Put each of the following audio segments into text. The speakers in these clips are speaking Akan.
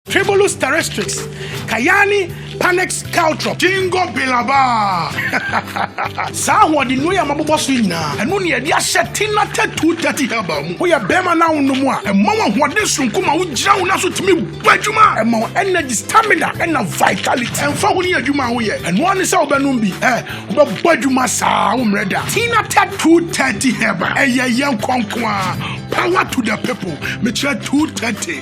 Tribulus terrestrix, Cayani panax caltrop. Ginkgo biloba. Saa ahoɔden nnuro yi a mabobɔ so yi nyinaa, ɛno na yɛde ahyɛ Tina Tatu Tati Herbal mu. Woyɛ barima na wonom a, ɛma wo ahoɔden soronko ma wogyina wo nan so tumi bɔ adwuma. Ɛma wo energy, stamina, ɛnna vitality. Ɛmfa ho ne adwuma a woyɛ, ɛno ara ne sɛ wobɛnom bi. Ɛ, wobɛbɔ adwuma saa, wommrɛ da. Tina Tatu Tati Herbal, ɛyɛ yɛn kɔ nko ara. Power to the people. Mekyerɛ Tatu Tati.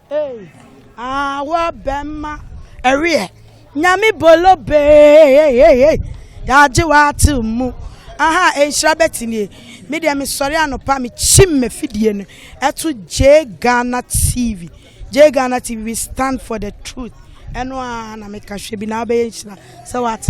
Ei ah wo bɛma ɛweɛ nyame bolo bee yɛagye w'ate mu aha nhyira bɛtinie me deɛ mesɔre anɔpa mekyim mafidie no ɛto J Ghana TV J Ghana TV we stand for the truth ɛno a na meka hwɛ bi na wobɛyɛ nhyira sɛ wate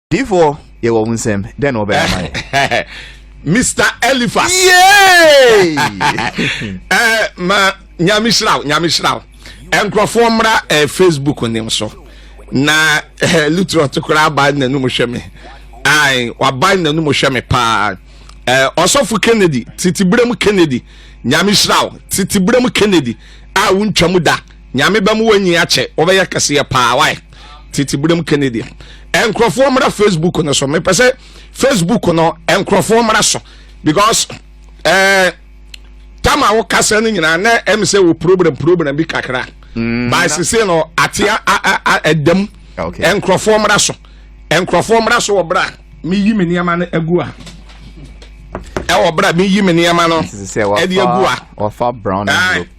Difoɔ yɛ wɔ wo nsɛm dɛn na wɔbɛyɛ ama yɛ. Mr. Eliphas. Yay! eh, ma nyame hyira wo nyame hyira wo nkurɔfoɔ mmra eh, facebook nim so na eh, lutrot koraa aban n'anum hwɛ me ai waban n'anum hwɛ me paa eh, ɔsɔfo kennedy titiberem kennedy nyame hyira wo titiberem kennedy a wontwa mu da Nyame ba mu wɔnyi akyɛ wɔbɛyɛ kɛseɛ paa wae titi brem Kennedy nkurɔfoɔ mmra Facebook no so mepɛ sɛ Facebook no nkurɔfoɔ mmra so because ɛɛ eh, tama wo kasa no nyinaa na ɛm sɛ wɔ problem problem bi kakra mm, by sese no ate ɛdam nkurɔfoɔ mmra so nkurɔfoɔ mmra so wɔ bra meyi me nneɛma no agu a ɛwɔ bra meyi me nneɛma no ɛde agu a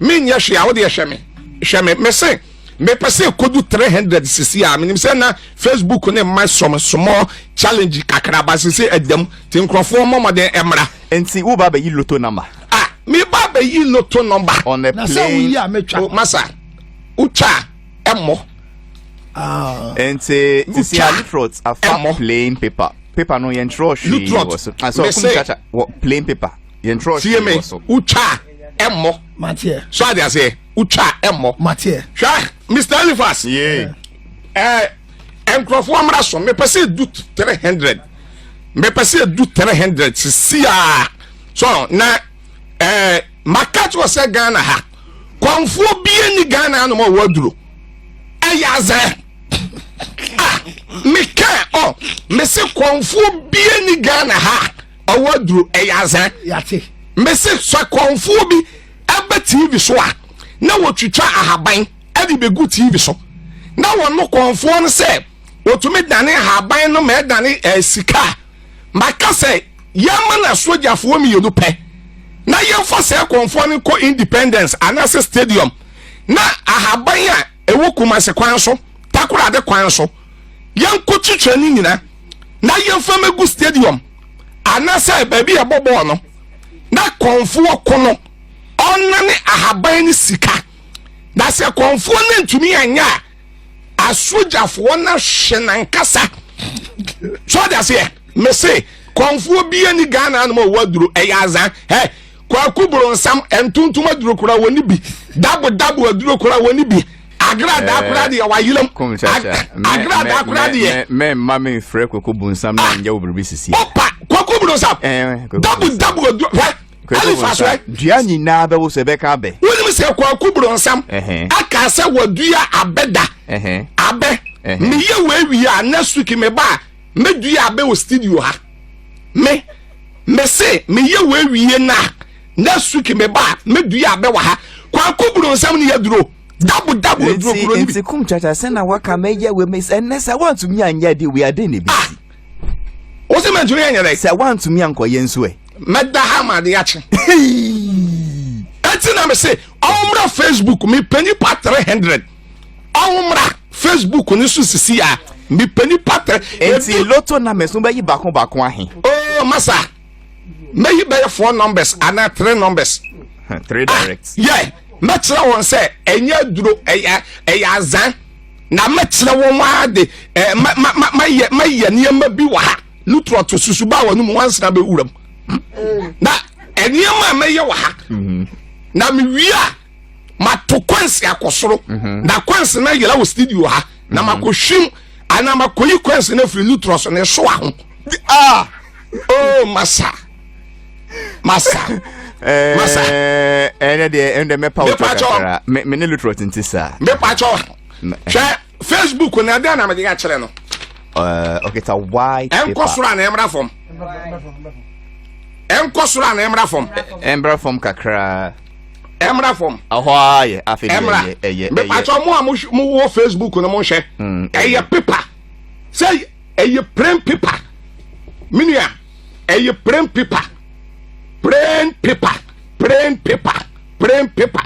menyɛ hwee a wodeɛ hwɛ me hwɛ me mese mepɛ sɛ ɛkɔdu 300 sisi a menim sɛ na facebook ne mma sɔm small challenge kakra ba sisi ɛdam nti nkurɔfoɔ mmɔmmɔden mmra nti woba bɛyi loto number a ah, meba bɛyi loto number on a plane oh, masa wotwa ɛmmɔ ah. nti sisi a litrot afa plain paper paper no yɛntwerɛ hwee wɔ so asɛ ɔkum kyakya wɔ plain paper yɛntwerɛ hwee wɔ so wotwa ɛmmɔ so ade aseɛ wotwa ɛmmɔ hwɛ mr elifas yee ɛɛ eh, nkurɔfoɔ mmra so mepɛ sɛ edu three hundred mepɛ sɛ edu three hundred sisi a so na ɛɛ eh, maka kyerɛ sɛ ghana ha kɔnfoɔ bie ni ghana anam a wɔaduro ɛyɛ azɛ ah meka ɔ mese kɔnfoɔ bie ni ghana ha. ɔwɔ aduro ɛyɛ azɛ yate mese sɛ kɔnfoɔ bi ɛbɛ tv so a na wɔtwitwa ahaban ɛde bɛgu tv so na wɔno kɔnfoɔ no sɛ wɔtumi dane ahaban no ma ɛdane ɛɛ eh, sika a maka sɛ yɛma na sogyafoɔ mmienu pɛ na yɛmfa sɛ kɔnfoɔ no kɔ independence anaasɛ stadium na ahaban a ɛwɔ kumase kwan so takorade kwan so yɛnkɔ twitwa no nyina na yɛmfa mɛgu stadium anasɛ baabi a ɛbɔ bɔɔl no na kɔnfoɔ ko no ɔnane ahaban ne sika na sɛ kɔnfoɔ no ntumi anyɛ a asogyafoɔ no ahwe nankasa sɛ ɔde aseɛ mese kɔnfoɔ bia ni ghana anom a ɔwɔ aduro ɛyɛ azan kwaku boronsam ntontom aduro kora wɔ ne bi dabodabo aduro kora wɔ ne bi agrada akora deɛ wayelam agrada akora deɛ mɛmma memfrɛ kwaku bonsam na nyɛ wo biribi sisi opa kwaku boronsam dabodabo aduro hwɛ alifa so ɛ dua nyinaa bɛwo sɛ ɛbɛka abɛ wonim sɛ kwaku boronsam aka sɛ wadua abɛda abɛ meyɛ wɔ awie a next week meba a me dua abɛ wɔ studio ha me me se me yɛ wɔ awie na next week me ba me dua abɛ wɔ ha kwaku buru nsɛm ne yɛ duro dabu dabu eduro kuro ni bi. nti kum kyakya sɛ na waka mɛ yɛ wɛ mɛ sɛ ɛnɛ sɛ wantumi anyɛ de wia de ne bi si. o sɛ mɛ ntumi anyɛ dɛ. sɛ wantumi ankɔyɛ nso ɛ. mɛ da ha ma de akyi. ɛti na mi se ɔmra facebook mi pɛ nipa three hundred. ɔnwomra facebook no so sisi a mepɛ nipa tɛ. nti loto numbers no bɛyi baako baako ahe. oo oh, masa mɛyi bɛyɛ four numbers anaa three numbers. three direct. Ah, yɛ mɛkyerɛ wɔn sɛ ɛnyɛ aduro ɛyɛ ɛyɛ azan na mɛkyerɛ wɔn ara de ɛɛ ma ma ma ma yɛ ma yɛ nneɛma bi wɔ ha lutura to susu ba wɔn mu wansena bɛ wura mu na nneɛma a mɛyɛ wɔ ha mm-hmm. na mewie a. mato kwansi akɔ soro mhm. na kwansi na yɛlɛ wɔ studio ha na mhm. makɔ hwim ana makɔ yi kwansi na firi nutrɔ so na ɛso aho ah oh masa masa eh, masa ɛnɛ eh, deɛ ɛnɛ mɛpa wotɔ kakra me ne lutrɔ tente saa mɛpa kyɛw hwɛ facebook na ɛdɛn na mede akyerɛ no eh, ɔkita white paper ɛnkɔ soro a na ɛmmra fam ɛnkɔ soro a na ɛmmra fam ɛmmra fam kakra ɛmra fam. ɛhɔ ara yɛ afei de ɛyɛ ɛyɛ ɛyɛ. mepatwa mo a mo wɔ facebook no mo nhwɛ. Hmm, ɛyɛ pepa sɛ ɛyɛ plain pepa menua ɛyɛ plain pepa plain pepa plain pepa plain pepa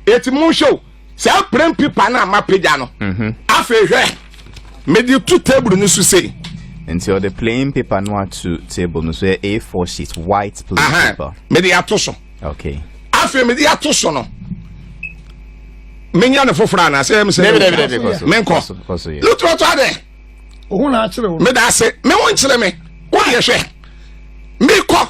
eti mo nhwɛ o. saa prem pipa no a mapagya no mhm. afei hwɛ mede to table no so sei nti ɔde plain paper no ato table no so yɛ a4 sheet white plain Aha. paper mede ato so okay afei mede ato so no menya ne foforɔ anaa sɛ ɛm sɛ menkɔ lotorɔtɔ adɛ meda ase me wo nkyerɛ me wodeɛ hwɛ mekɔ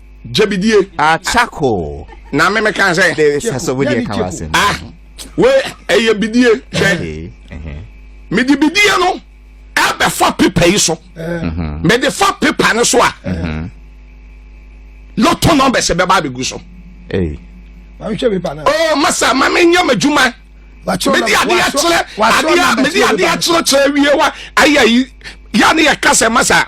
gyebidie. akyako. na me me kan sɛ. de sasɔ wo deɛ kan wa sɛ. ah we ɛyɛ bidie hwɛ me de bidie no ɛbɛfa pepa yi so mhm. me de fa pepa no so a mhm. lotto numbers bɛba abɛgu so. oh masa ma me nyɛ m'adwuma mede adeɛ akyerɛ adeɛ mede adeɛ akyerɛkyerɛ wie wa ayɛ yi yɛ ne yɛ kasa masa.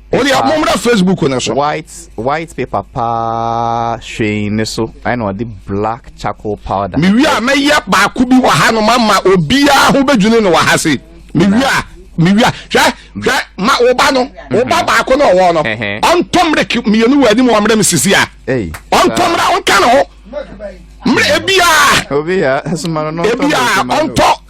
o deɛ mommra facebook no so white white paper paa hwee ne so ɛna ɔde black charcoal powder mewie a mɛyɛ baako bi wɔ ha no mama obiara ho bɛdwene no wɔ ha se mewie a mewie a hwɛ hwɛ ma wo ba no mhm. wo ba baako na ɔwɔ no ɔntɔ mmerɛk mmienu wɔ anim ɔmmerɛ me sisi a ɔntɔ mmerɛ ɔnka ne ho mmerɛ ebiaa ebiaa ɔntɔ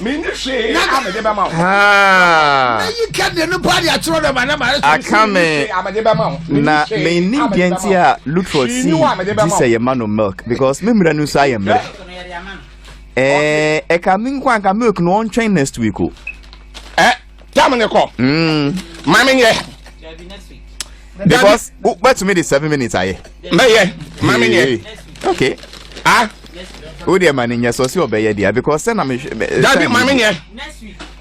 Menni hwee a mede bɛma wo. Mɛyi kɛdeɛ no paa de akyerɛ dɛ ma na ma ayɛ Aka me na menni deɛ nti a Luttrell si gye sɛ yɛma no milk because me mmerɛ no nso ayɛ mmerɛ. Ɛka me nko anka milk no ɔntwɛn next week o. Jam ne kɔ. Mm. Maame yɛ. Because wobɛtumi de seven minutes ayɛ. Mɛyɛ. Maame yɛ. Okay. Ah. o deɛ ma ne nyɛ sɔ si ɔbɛyɛ deɛ because sɛ na me hwɛ. Dabi maame yɛ.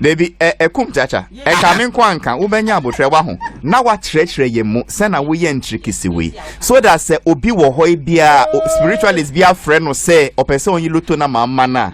Dabi ɛ ɛkum kyakya ɛka me nko anka wobɛnya abotire wa ho na wakyerɛkyerɛ yɛn mu sɛ na woyɛ ntirikisi wei so that sɛ obi wɔ hɔ yi biara spiritualist bi afrɛ no sɛ ɔpɛ sɛ ɔnyi loto na maa ma no a.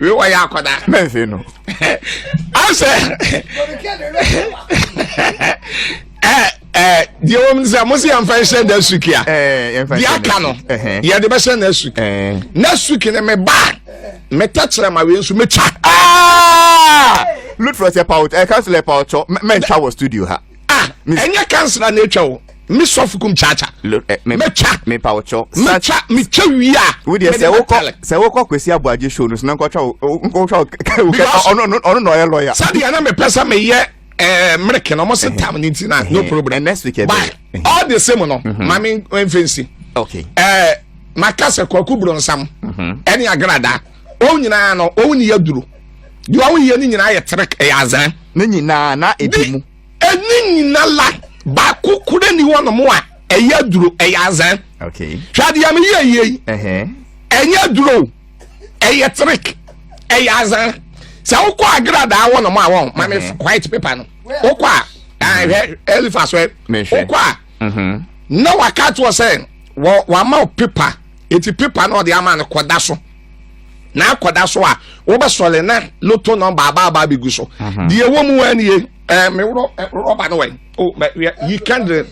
wei wɔyɛ akɔda mɛnse no asɛ deɛ wɔm sɛ mo sɛ yɛmfa nhyɛ na asuki a deɛ aka no yɛde bɛhyɛ na asuki na asuki no meba meta kyerɛ ma wei nso mɛtwa lutfrɛ sɛ pawt ɛka sɛ lɛ pawtɔ mɛntwa wɔ studio ha ah ɛnyɛ kansila na atwa o me sɔfo kum kyaakya eh, mɛtwa mepa wo kyɛw mɛtwa metwa wie a wodeɛ sɛ wokɔ sɛ wokɔ kwasi aboagye show no so na nkɔtwa nkɔtwa ɔno na ɔyɛ lɔya sɛdeɛ na mepɛ sɛ meyɛ eh, mmereke na ɔmo se tam ne nti na no problem next week but all the same no mhm. ma me mfɛnsi okay eh, maka sɛ kwaku bronsam mhm. ɛne agradaa Wɔn nyinaa no, wɔn ni yɛ duro. Deɛ wɔn yɛ no nyinaa yɛ terek, ɛyɛ azan. Ne nyinaa na ebi mu. Ɛne nyinaa la baako kura ni wɔn mo a ɛyɛ duro, ɛyɛ azan. Okay. Hwɛ adeɛ mi yie yie yi. Ɛnyɛ duro, ɛyɛ terek, ɛyɛ azan. Sɛ wokɔ agradaa wɔn mo a wɔn ma mi white paper no. Wokɔ a, ɛhwɛ ɛlifa so ɛ. Wokɔ a, na waka to sɛ wɔn ama paper. Eti pepa na ɔde ama no kɔda so na akɔda so a wobɛsɔre na loto nɔmba aba aba abɛgu so mhm. deɛ ɛwɔ mu anie eh, me eh, rɔba no wɛn oh, yi kɛndere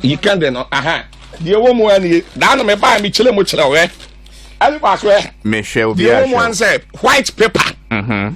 yi kɛndere no aha deɛ ɛwɔ mu anie daa no mebaa mekyerɛ mu kyerɛ wɛ ɛne baako ɛ deɛ ɛwɔ mu an sɛ white paper mhm.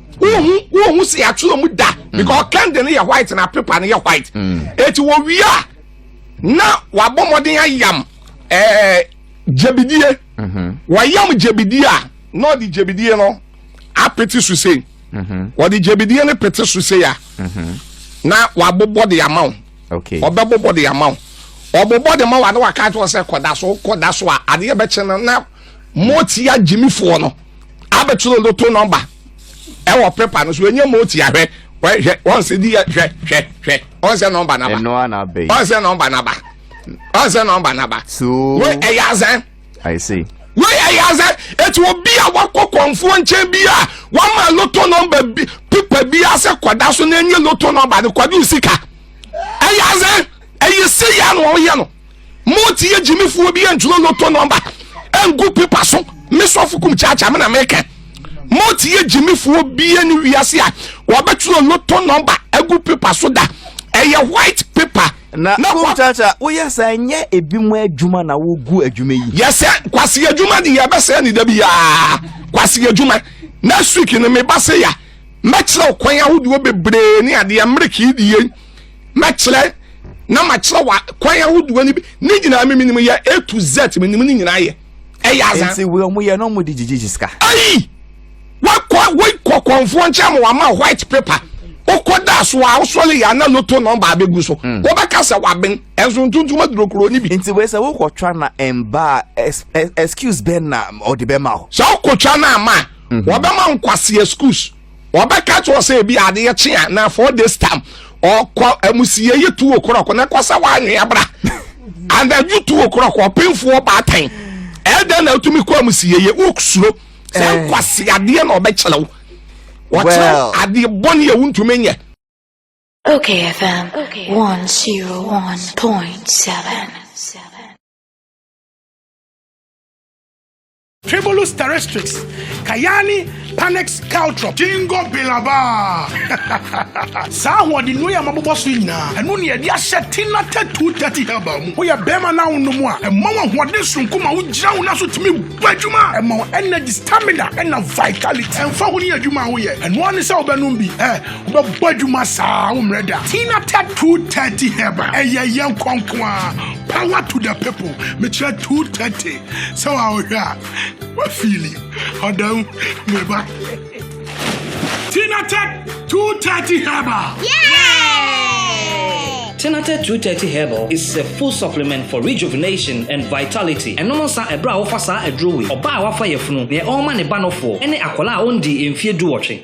wohu wohu sɛ yɛato ɔmu da mm. because kɛnde no yɛ white na pepa no yɛ white ɛti mm. wɔwie a na wabɔ mmɔden ayam ɛɛ gyabidie mm-hmm. wɔyam gyabidie a na ɔde gyabidie no apete so sei mm-hmm. wɔde gyabidie no pete so sei a mm-hmm. na wabobɔ de ama wo ɔbɛbobɔ de ama wo ɔbobɔ de ma wo ade waka kyerɛ sɛ kɔda so kɔda so a adeɛ bɛkyɛ no na mɔtia gyimifoɔ no abɛtwerɛ no to nɔmba ɛwɔ pepa no so ɛnyɛ ma ɔti ahwɛ hwɛ wɔn sɛ di hwɛ hwɛ hwɛ wɔn sɛ nɔmba naba wɔn sɛ nɔmba naba wɔn sɛ nɔmba naba wɔn ɛyɛ azɛn wɔn ɛyɛ azɛn eti obi a wakɔ kɔnfoɔ nkyɛn bi a wɔn ma loto nɔmba bi pepa bi asɛ kɔda so na enye loto nɔmba no kɔdu sika ɛyɛ azɛn ɛyɛ si yɛ no wɔn yɛ no. Mo ti yɛ gyimi fuo bi ɛntwerɛ loto nɔmba ɛngu pepa so me sɔfo kum kyaakya me na meka mo ti yɛ gyimi fuo bi ɛne wiase a wɔbɛtwerɛ loto nɔmba ɛgu pepa so da ɛyɛ white paper na kum kyaakya woyɛ sɛ ɛnyɛ ebi mu adwuma na wogu adwuma yi yɛsɛ kwasi adwuma de yɛbɛsɛ ne da biara kwasi adwuma next week no meba se ya mɛkyerɛ kwan ahodoɔ bebree ne adeɛ mmereke die Mɛkyerɛ na makyerɛ wa kwan ahodoɔ no bi ne nyinaa me menim yɛ A to Z menim ne nyinaa yɛ ɛyɛ aza. Nti wei ɔmo yɛ na ɔmo di gyigye sika. Ayi wakɔ wei kɔ kɔnfoɔ nkyɛn ma wama white paper wokɔ da so a wosɔre yɛ ana loto nɔmba abɛgu so hmm. wobɛka sɛ waben ɛnso ntontom aduro kuro no bi nti wei sɛ wokɔtwa na ɛmba excuse bɛn na ɔde bɛma wo sɛ wokɔtwa no ama a hmm. wɔbɛma nkwase excuse wɔbɛka kyerɛ sɛ ebi adeɛ kye a na four days time ɔkɔ amusiɛ yɛ tuo korɔkɔ na kɔsɛ wɔanwe abra anadwo tuo korɔkɔ ɔpenfoɔ baatan ɛdɛn na wotumi kɔ amusiɛ yɛ wosuro sɛ eh. nkwase adeɛ na ɔbɛkyerɛ wo wɔkyerɛ adeɛ bɔne a wontumi nyɛ Okay, FM okay. 101.7. Tribulus terrestrix, Cayani panax caltrop, Jingo biloba. Saa ahoɔden nnuro yi a mabobɔ so yi nyinaa, ɛno ne yɛde ahyɛ Tina Tatu Tati Herbal mu. Woyɛ bɛrima na wonom a, ɛma wo ahoɔden soronko ma wogyina wo nan so tumi bɔ adwuma. Ɛma wo energy, stamina, ɛna vitality. Ɛmfa ho ne adwuma a woyɛ, ɛno ara ne sɛ wobɛnom bi. Ɛ, wobɛbɔ adwuma saa, wommrɛ da. Tina Tatu Tati Herbal, ɛyɛ yɛn nkɔ nko ara. Power to the people. Mekyerɛ 230. sɛ wa wohwɛ a wa fili ɔda mu me ba tinated 230 herbal Tinated 230 Herbal is a full supplement for rejuvenation and vitality. Ɛnom nsa ɛberɛ a wofa saa aduro wei. Ɔbaa a wafa yafunu, deɛ ɔrema ne ba nofoɔ, ne akwadaa a ɔndii mfeɛ duwɔtwe.